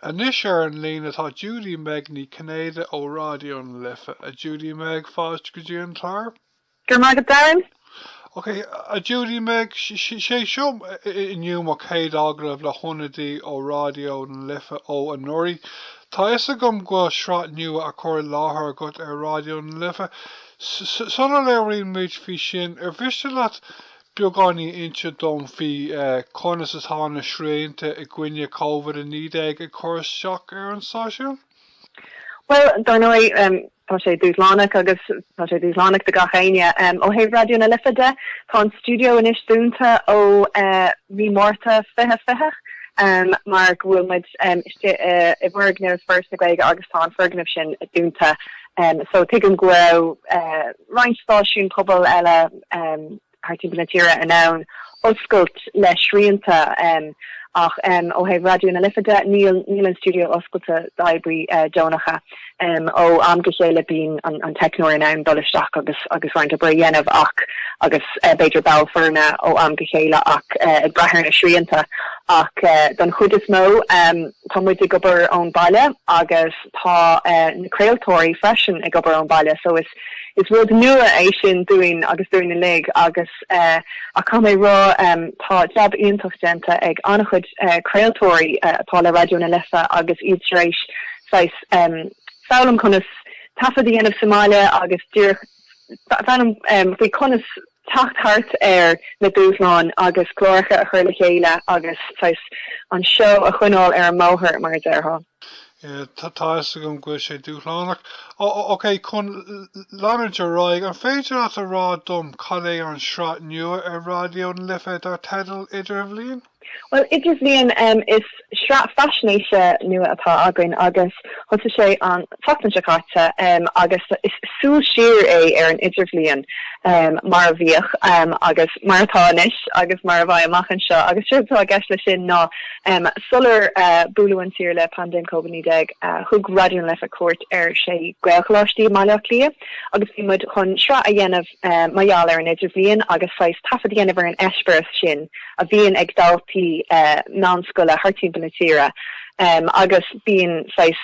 Anois ar an líne tá Judy Meg Ní Chinnéide ó Ráidió na Life. A Judy Meg, fáilte go dtí an clár. Go raibh maith agat, Darren. Ok, a Judy Meg, sé seo inniu mo chéad agallamh le hionadaí ó Ráidió na Life ó anuraidh. Tá fhios agam go bhfuil sraith nua á chur i láthair agat ar Ráidió na Life. Sula labhraíonn muid faoi sin, ar mhiste leat beagáinín inse dom faoi conas atá na srianta i gcoinne Covid-19 ag cur isteach ar an stáisiún? Bhuel, dar ndóigh, tá sé dúshlánach agus tá sé dúshlánach do gach éinne. Ó thaobh Raidió na Life de, tá an stiúideo anois dúnta ó mhí Márta 2020 mar go bhfuil muid istigh i bhfoirgneamh Foras na Gaeilge agus tá an foirgneamh sin dúnta so tuigim go raibh roinnt stáisiún pobail eile thart timpeall na tíre in ann oscailt le srianta ach ó thaobh Raidió na Life de, níl an stiúideo oscailte d'oibrithe deonacha. Ó am go chéile bíonn an teicneoir in ann dul isteach agus roinnt oibre a dhéanamh ach agus b'fhéidir ball foirne ó am go chéile ach ag brath ar na srianta ach don chuid is mó tá muid ag obair ón baile agus Tá na craoltóirí freisin ag obair ón baile so is rud nua é sin dúinn agus dúinn uilig agus ach caithfidh mé rá tá jab iontach déanta ag an-chuid craoltóirí atá le Raidió na Life agus iad tar éis saghas foghlaim conas taifead a dhéanamh sa mbaile agus díreach foghlaim faoi conas teacht thart ar na dúshláin agus cláracha a chur le chéile agus saghas an seó a choinneáil ar an mbóthar mar a déarfá. Yeah, tá fhios agam go bhfuil sé dúshlánach. OK, chun leanúint ar aghaidh, an féidir leat a rá dom cad é an sraith nua ar Raidió na Life dar teideal Idirbhliain? Bhuel, Idirbhliain is sraith faisnéise nua atá againn agus thosaigh sé an tseachtain seo caite agus is súil siar é ar an Idirbhliain mar a bhíodh agus mar atá anois agus mar a bheidh amach anseo agus séard atá i gceist leis sin ná sular buaileadh an tír le paindéim Covid 19 thug Raidió na Life cuairt ar 6 Ghaelcholáistí i mBaile Átha Cliath agus bhí muid chun sraith a dhéanamh mar gheall ar an Idirbhliain agus saghas taifead a dhéanamh ar an eispéireas sin a bhíonn ag daltaí meánscoile thart timpeall na tíre agus bíonn saghas,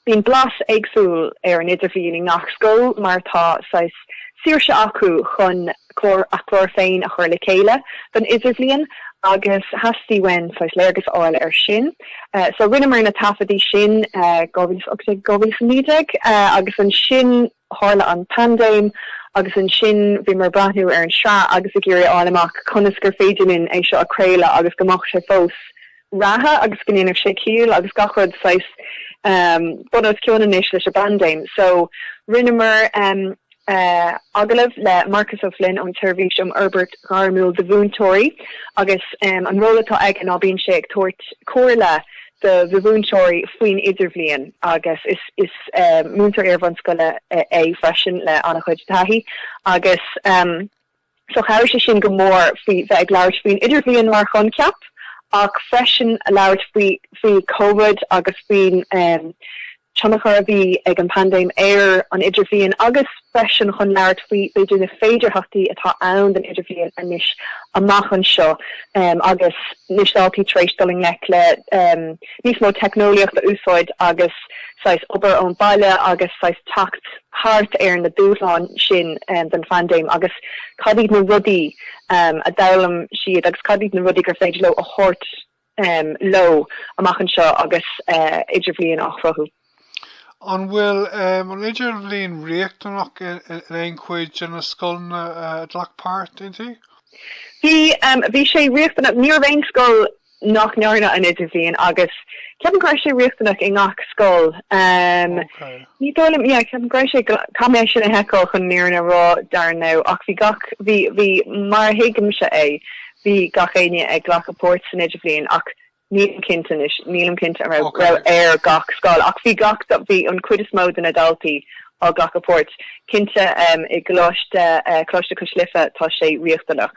bíonn blas éagsúil ar an Idirbhliain i ngach scoil mar tá saghas saoirse acu chun clár, a chlár féin a chur le chéile don Idirbhliain agus theastaigh uainn saghas léargas a fháil ar sin so rinneamar na taifeadtaí sin 2018, 2019 agus ansin. Tharla an paindéim agus ansin bhíomar ag breathnú ar an sraith agus ag iarraidh a fháil amach conas gur féidir linn é seo a craoladh agus go mbeadh sé fós reatha agus go ndéanfadh sé ciall agus gach rud saghas bun os cionn anois leis an bpaindéim. So rinneamar agallamh le Marcus Ó Floinn ón tSeirbhís um Fhorbairt Ghairmiúil do Mhúinteoirí agus an ról atá aige ná bíonn sé ag tabhairt comhairle do mhúinteoirí faoin idirbhliain agus is múinteoir iarbhunscoile é freisin le an-chuid taithí agus so chabhraigh sé sin go mór faoi bheith ag labhairt faoin idirbhliain mar choincheap ach freisin labhairt faoi covid agus faoin tionchar a bhí ag an bpaindéim ar an idirbhliain agus freisin chun labhairt faoi b'fhéidir na féidearthachtaí atá ann don idirbhliain anois amach anseo agus na daltaí tar éis dul i ngleic le níos mó teicneolaíocht a úsáid agus saghas obair ón baile agus saghas teacht thart ar na dúshláin sin den phaindéim agus cad iad na rudaí a d'fhoghlaim siad agus cad iad na rudaí gur féidir leo a thabhairt leo amach anseo agus idirbhliain á chruthú. An bhfuil an idirbhliain riachtanach in aon chuid de na scoileanna a ghlac páirt inti? Bhí. Bhí sé riachtanach. Ní raibh aon scoil nach ndearna an idirbhliain agus ceapaim go raibh sé riachtanach i ngach scoil. Ní dóigh liom, yeah, ceapaim go raibh sé, caithfidh mé é sin a sheiceáil chun an fhírinne a rá dar ndóigh ach bhí gach, bhí, bhí, mar a thuigimse é, bhí gach éinne ag glacadh páirt san Idirbhliain ach nílim cinnte anois, nílim cinnte an raibh, raibh Okay. ar gach scoil ach bhí gach, bhí an chuid is mó de na daltaí ag glacadh páirt. Cinnte em i gColáiste eh, Coláiste Cois Life tá sé riachtanach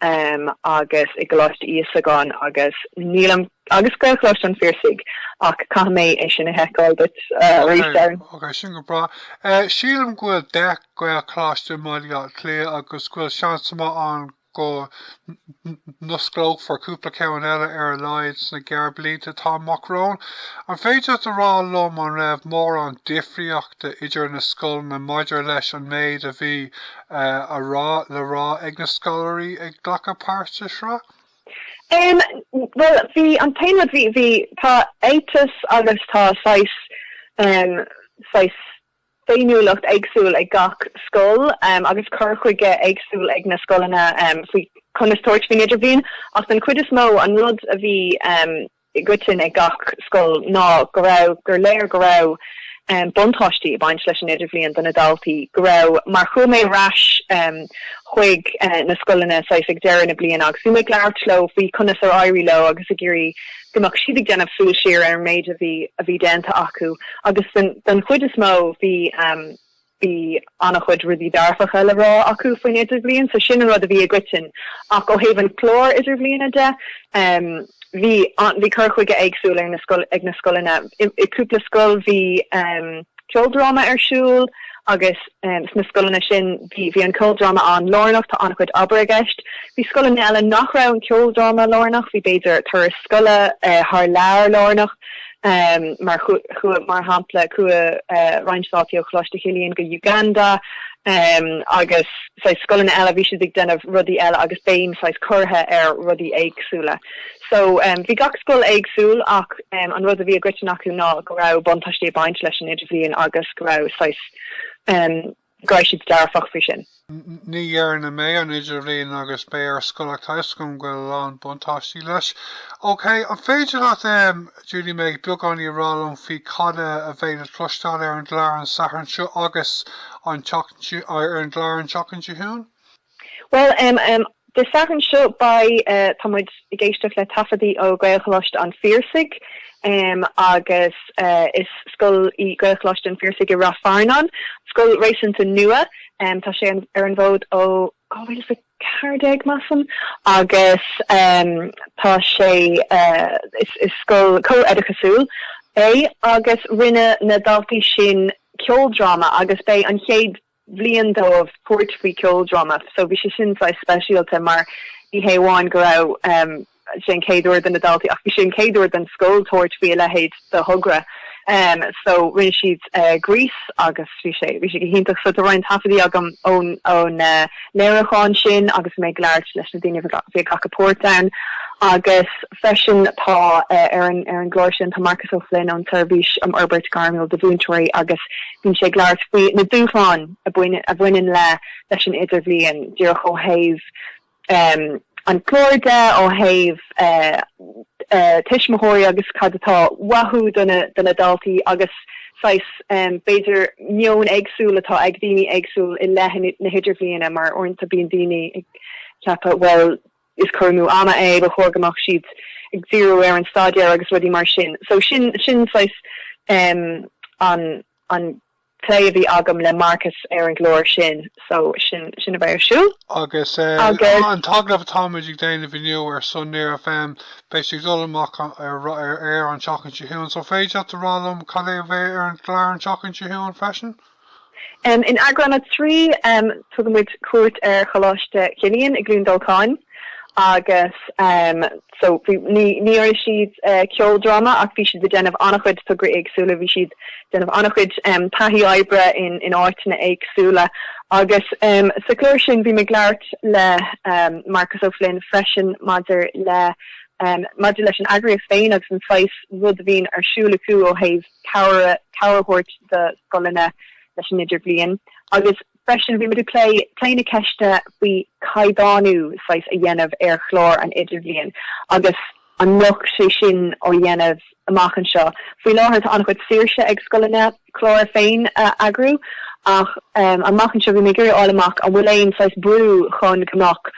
em agus i gColáiste Íosagáin agus nílim, Agus Gaelcholáiste an Phiarsaigh. Ach caithfidh mé é sin a sheiceáil duit arís, Darren. OK, OK, go breá. Sílim go bhfuil deich Gaelcholáiste i mBaile Átha Cliath agus go bhfuil seans maith ann go n-osclófar cúpla ceann eile ar a laghad sna gearr blianta atá amach romhainn. An féidir leat a rá liom an raibh mórán difríochta idir na scoileanna maidir leis an méid a bhí le rá ag na scoláirí ag glacadh páirt sa sraith? Bhuel bhí an t-aon rud bhí bhí tá éiteas agus tá saghas saghas féiniúlacht éagsúil ag gach scoil agus cur chuige éagsúil ag na scoileanna faoi conas tabhairt faoin idirbhliain ach den chuid is mó an rud a bhí i gcoitinn ag gach scoil ná go raibh, gur léir go raibh buntáistí ag baint leis an idirbhliain do na daltaí go raibh mar chuaigh mé ar ais chuig na scoileanna saghas ag deireadh na bliana agus bhí mé ag labhairt leo faoi conas ar éirigh leo agus ag iarraidh go mbeadh siad ag déanamh súil siar ar an méid a bhí a bhí déanta acu agus den chuid is mó bhí bhí an-chuid rudaí dearfacha le rá acu faoin idirbhliain so sin an rud a bhí i gcoiteann ach ó thaobh an chlár idirbhliana de bhí bhí cur chuige éagsúil ar na ag na scoileanna i gcúpla scoil bhí ceoldráma ar siúl agus sna scoileanna sin bhí bhí an ceoldráma an-lárnach tá an-chuid obair i gceist bhí scoileanna eile nach raibh an ceoldráma lárnach bhí b'fhéidir turas scoile thar lear lárnach Mar shampla, chuaigh roinnt daltaí ó Choláiste Chilliain go Uganda agus scoileanna eile, bhí siad ag déanamh rudaí eile agus béim saghas curtha ar rudaí éagsúla. So bhí gach scoil éagsúil ach an rud a bhí i gcoiteann acu ná go raibh buntáistí ag baint leis an Idirbhliain agus go raibh. go raibh siad dearfach faoi sin. Ní dhearna mé an idirbhliain agus mé ar scoil ach tá 'fhios agam go bhfuil a lán buntáistí leis. OK, an féidir leat, em, Julie May, beagáinín a rá liom faoi cad a a bheidh le cloisteáil ar an gclár an Satharn seo agus an tseacht, ar an gclár an tseachtain seo chugainn? Bhuel, Dé Sathairn seo beidh, tá muid ag éisteacht le taifeadaí ó Ghaelcholáiste an Phiarsaigh agus is scoil í Gaelcholáiste an Phiarsaigh i Ráth Fearnáin, scoil réasúnta nua, tá sé ar an bhfód ó 2014, measaim, agus tá sé, is scoil comh-oideachasúil é agus rinne na daltaí sin ceoldráma agus beidh an chéad bhliain dóibh tabhairt faoi ceoldráma so bhí sé sin saghas speisialta mar ní hé amháin go raibh sé an chéad uair do na daltaí ach bhí sé an chéad uair don scoil tabhairt faoi a leithéid de thogra so rinne siad Grease agus bhí sé bhí sé go hiontach so tá roinnt taifeadaí agam ón ón léiriúchán sin agus mé ag labhairt leis na daoine bhí bhí ag glacadh páirt ann agus freisin tá ar an ar an gclár sin tá Marcus O'Flynn ón tSeirbhís um Fhorbairt Ghairmiúil do Mhúinteoirí agus Bíonn sé ag labhairt faoi na dúshláin a bhaineann le leis an idirbhliain díreach ó thaobh an chlár de, ó thaobh tuismitheoirí agus cad atá uathu do na daltaí agus saghas b'fhéidir meon éagsúil atá ag daoine éagsúil i leith na hidirbhliana mar uaireanta bíonn daoine ag ceapadh bhuel is cur amú ama é, ba chóir go mbeadh siad ag díriú ar an staidéar agus rudaí mar sin. So sin sin saghas em an an plé a bhí agam le Marcus ar an gclár sin so sin sin a bheidh ar siúl. Agus an t-agallamh atáimid ag déanamh inniu ar son Near FM beidh sé ag dul amach ar ar aer an tseachtain seo chugainn so an féidir leat a rá liom cad é a bheidh ar an gclár an tseachtain seo chugainn freisin? In eagrán a trí, tugaimid cuairt ar Choláiste Chilliain i gCluain Dolcáin agus so ní dhearna siad ceoldráma ach bhí siad ag déanamh an-chuid tograí éagsúla, bhí siad ag déanamh an-chuid taithí oibre in áiteanna éagsúla agus sa chlár sin bhí mé ag labhairt le Marcus Ó Floinn freisin maidir le maidir leis an eagraíocht féin agus an saghas rud a bhíonn ar siúl acu ó thaobh cabhair a thabhairt do scoileanna leis an idirbhliain agus freisin bhí muid ag plé, plé na ceiste faoi caighdeánú saghas a dhéanamh ar chlár an idirbhliain agus an mbeadh sé sin á dhéanamh amach anseo. Faoi láthair tá an-chuid saoirse ag scoileanna a gclár féin a eagrú ach amach anseo bhí mé ag iarraidh a fháil amach an bhfuil aon saghas brú chun go mbeadh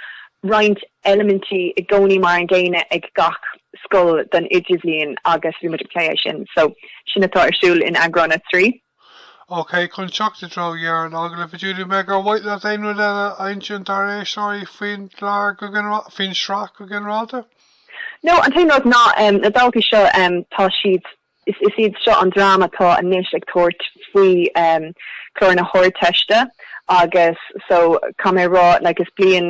roinnt eilimintí i gcónaí mar an gcéanna ag gach scoil don idirbhliain agus bhí muid ag plé é sin. So, sin atá ar siúl in eagrán a trí. OK, chun teacht i dtreo dheireadh an agallaimh, a Judy Meg, ar mhaith leat aon rud eile a insint dár éisteoirí faoin gclár go ginearálta, faoin tsraith go ginearálta? No, an t-aon rud ná na daltaí seo tá siad Is iad seo an dream atá anois ag tabhairt faoi chlár na hArdteiste agus so caithfidh mé a rá like is bliain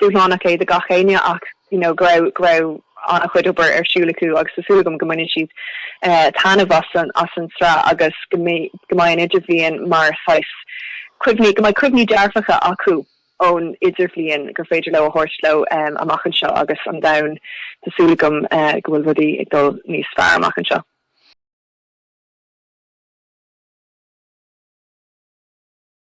dúshlánach é do gach éinne ach you know go raibh go raibh an-chuid obair ar siúl acu agus tá súil agam go mbaineann siad taitneamh as an as an tsraith agus go mbeidh go mbeidh an idirbhliain mar saghas cuimhní go mbeidh cuimhní dearfacha acu. ón idirbhliain gur féidir leo a thabhairt leo amach anseo agus an domhan, tá súil agam go bhfuil rudaí ag dul níos fearr amach anseo.